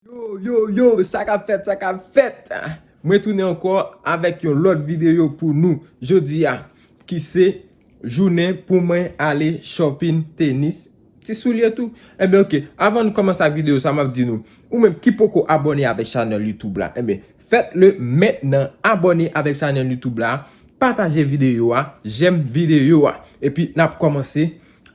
Yo yo yo sa kap fèt sa kap fèt mwen tounen ankò avèk yon lòt videyo pou nou jodi a ki se jounen pou mwen ale shopping tenis ti soulye tou enben ok avan nou kòmanse ak videyo sa map di nou ou menm ki poko abòne avèk chanèl YouTube la enben fèt le mentnan abòne avèk chanèl YouTube la pataje videyo a jèm videyo a epi nap kòmanse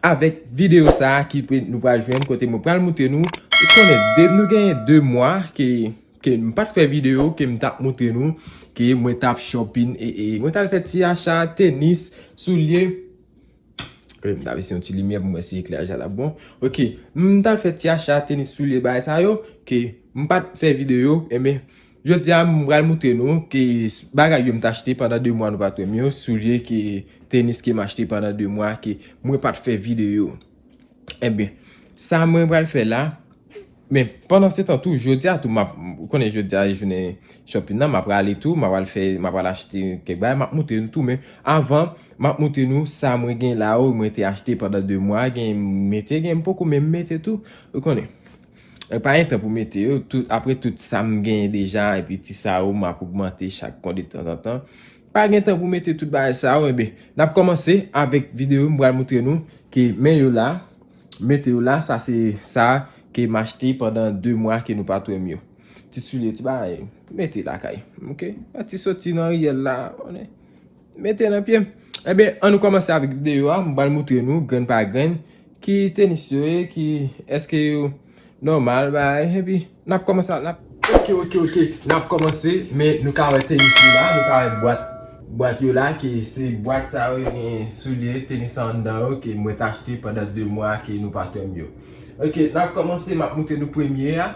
Avèk video sa ki nou pral jwenn kote mwen pral moutre nou ou konnen depi nou gen 2 mwa ke m pat fè video ke m tap moutre nou ke mwen tap shopping ee mwen tal fè ti acha tenis soulye e m ta vin si yon ti limyè pou mwen si eklè acha tap bon ok m tal fè ti acha tenis soulye bagay sa yo ke m pat fè video enben Jodi a m pral moutre nou ke bagay yo m t achte pandan 2 mwa nou pat wè m yo, soulye ke tenis ke m achte pandan 2 mwa ke mwen pat fè video. Enben, sa mwen pral fè la, men pandan se tan tou jodi a tou m ap, ou konnen jodi a e jounen shopping nan m ap prale tou, m ap pral fè, m ap pral achte kèk bagay, m ap moutre nou tou men avan m ap moutre nou sa mwen gen la yo mwen te achte pandan 2 mwa, gen m mete gen m poko menm mete tou, ou konnen. Mwen pa gen tan pou mete yo, apre tout sa m genyen deja epi ti sa yo m ap ogmante chak mwa detanzantan, m pa gen tan pou mete tout bagay sa yo enben n ap kòmanse avèk videyo m pral moutre nou ke men yo la, mete yo la sa se sa ke m achte pandan 2 mwa ke nou pa t wè m yo. Ti soulye, ti bagay, mete lakay, ok, yon ti soti nan riyèl la. Mete nan pyem. Enben, an nou kòmanse avèk videyo a. M pral moutre nou grenn pa grenn ki tenis yo ye, ki èske yo nòmal bay. Enpi, n ap kòmanse avèk. Ok, ok, ok, n ap kòmanse. Men, nou ka wè tenis yo la. Nou ka wè bwat, bwat yo la ki se bwat sa yo gen soulye tenis an anndan yo ke mwen te achte pandan 2 mwa ke nou patèm yo. Ok, n ap kòmanse, m ap moutre nou premye a.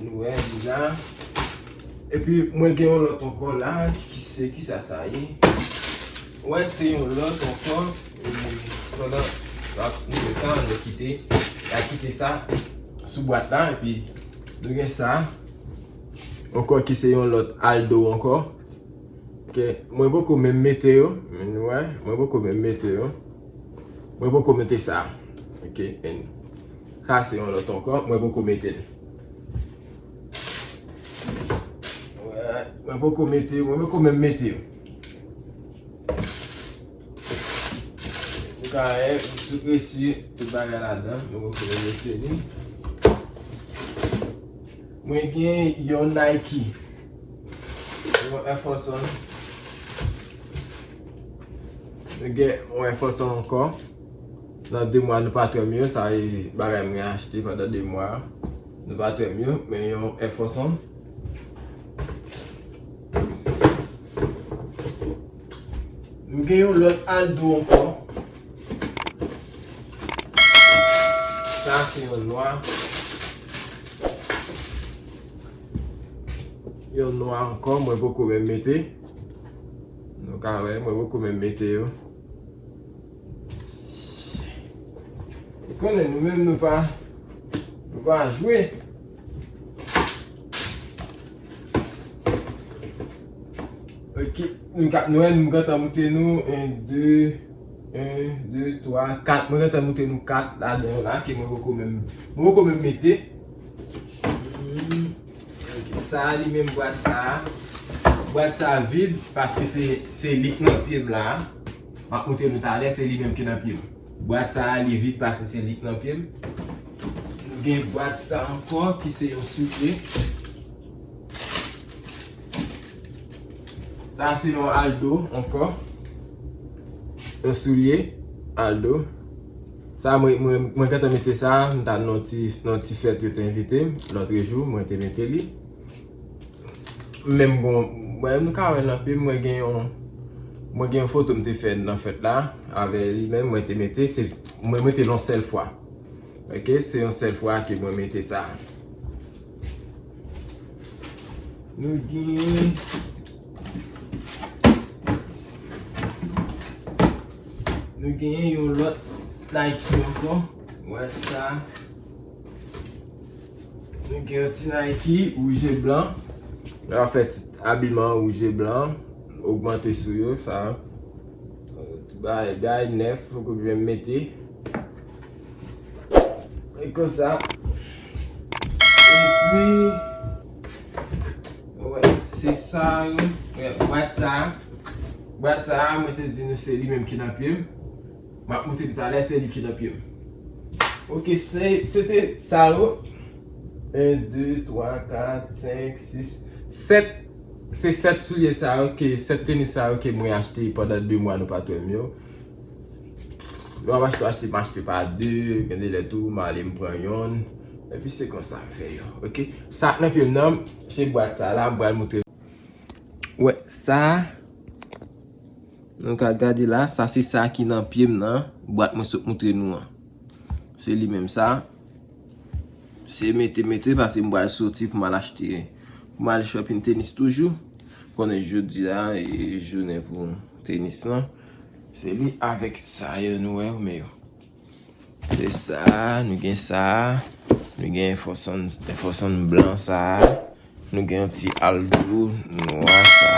Nou wè li la. E pi mwen gen yon lòt ankò la ki se ki sa sa ye. Wè se yon lòt ankò. E pandan nou ap ouvè sa an nou kite. A kite sa sou bwat la. E pi nou gen sa. Ankò ki se yon lòt aldo ankò. Ke mwen poko menm mete yo. Men nou wè. Mwen poko menm mete yo. Mwen poko mete sa. Ok. Sa se yon lot ankò mwen poko metel. Mwen poko mete yo, mwen poko menm mete yo. Mwen ka e, tout resi, tout bagay la dan, mwen poko menm mete li. Mwen gen yon Nike, yon Air Force One. Mwen gen yon Air Force One ankò. Nan 2 mwa nou pa twèm yo sa e bagay mwen achte pandan 2 mwa nou pa twèm yo men yon Air Force One nou gen yon lòt Aldo ankò sa se yon nwa yon nwa ankò mwen poko menm mete nou ka wè mwen poko menm mete yo. Ou konnen nou menm nou pa Nou pa jwe Ok Nou ka nou en nou gata moute nou 1, 2 1, 2, 3, 4 Mwen gata moute nou 4 la den la Ke mwen poko menm Mwen poko menm mete Ok sa li menm bwat sa Bwat sa vide Paske se se li k nan pye m la Map moutre nou talè se li menm ki nan pyem. Bwat sa a li vid pase se lik nan pyem. Nou gen bwat sa ankò ki se yon soulye. Sa se yon aldo ankò. Yon soulye aldo. Sa mwen gentan mete sa a, mwen ta nan ti fèt yo te envite m lotrejou mwen te mete li. Menm gon, mwen nou ka wè nan plim mwen gen yon Mwen gen yon foto m te fè nan fèt la avè li menm mwen te mete se Mwen mete l yon sèl fwa Ok se yon sèl fwa ke mwen mete sa Nou genyen Nou genyen yon lòt Nike ankò Mwen sa Nou gen yon ti Nike rouj e blan. Yo ap fè ti abiman rouj e blan. Ogmante sou yo sa. Tout bagay nèf pou kout vèm mete. E kon sa. E pi. Wè. Se sa yo. Wè. Bwat sa. Bwat sa. Mwen te di nou se li menm ki nan pye m. Map moute li talè se li ki nan pyem. Ok se se te sa yo 1 2 3 4 5 6 7 se 7 soulye sa yo ke 7 tenis sa yo ke mwen achte pandan 2 mwa nou pat wèm yo lè wap achte w achte m achte pa 2 gen de lè tou m ale m pran yonn epi se konsa m fè yo ok sak nan pyem nan se bwat sa la m pral moute wè sa. Nou ka gade la, sa se sa ki nan pye m nan, bwat mwen sot moutre nou an. Se li menm sa. Se mete mete pase m bal soti pou m al achte, pou m al shopping tenis toujou. Konnen jodi a e jounen pou tenis lan. Se li avèk sa yo nou wè yo men yo. Se sa, nou gen sa, nou gen enfòsàn blan sa, nou gen yon ti aldo nwa sa,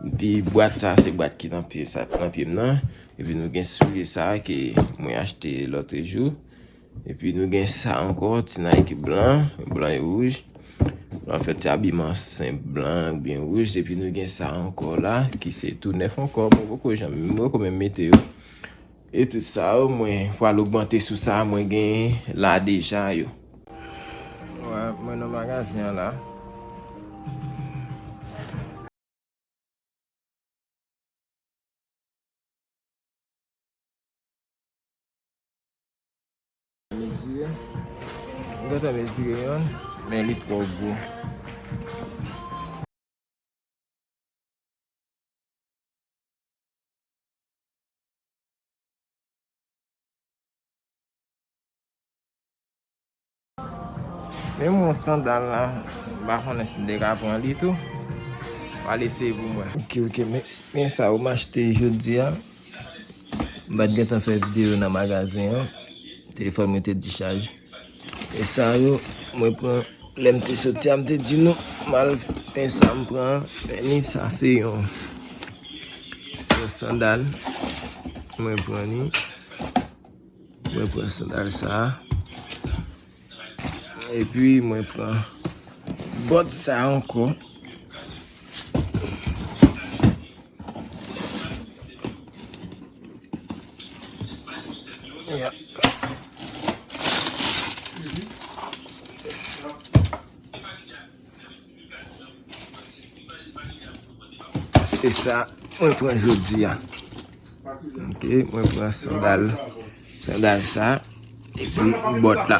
epi bwat sa se bwat ki nan pye m nan, epi nou gen soulye sa ke mwen achte lòtrejou, epi nou gen sa ankò ti nayki blan, blan e wouj, an fèt se abiman senp blan byen wouj, epi nou gen sa ankò la ki se tou nèf ankò, mwen poko janm, mwen poko menm mete yo. Etid sa yo mwen pral ogmante sou sa mwen gen la deja yo. Wè mwen nan magazen an la. Mezire. Mwen gentan mezire yonn men li twò gwo. Men m wè sandal la, m pa konnen si m te ka pran li tou. M al eseye pou m wè. Ok ok men sa yo m achte jodi a. M pa t gentan fè videyo nan magazen an. Telefòn mwen te dichaj. E sa yo mwen pran lèm te soti a m te di nou mal pen sa m pran an men ni sa se yon yon sandal mwen pran ni mwen pran sandal sa a epi mwen pran bòt sa a ankò. Se sa mwen pran jodi a. Ok, mwen pran sandal. Sandal sa epi bòt la.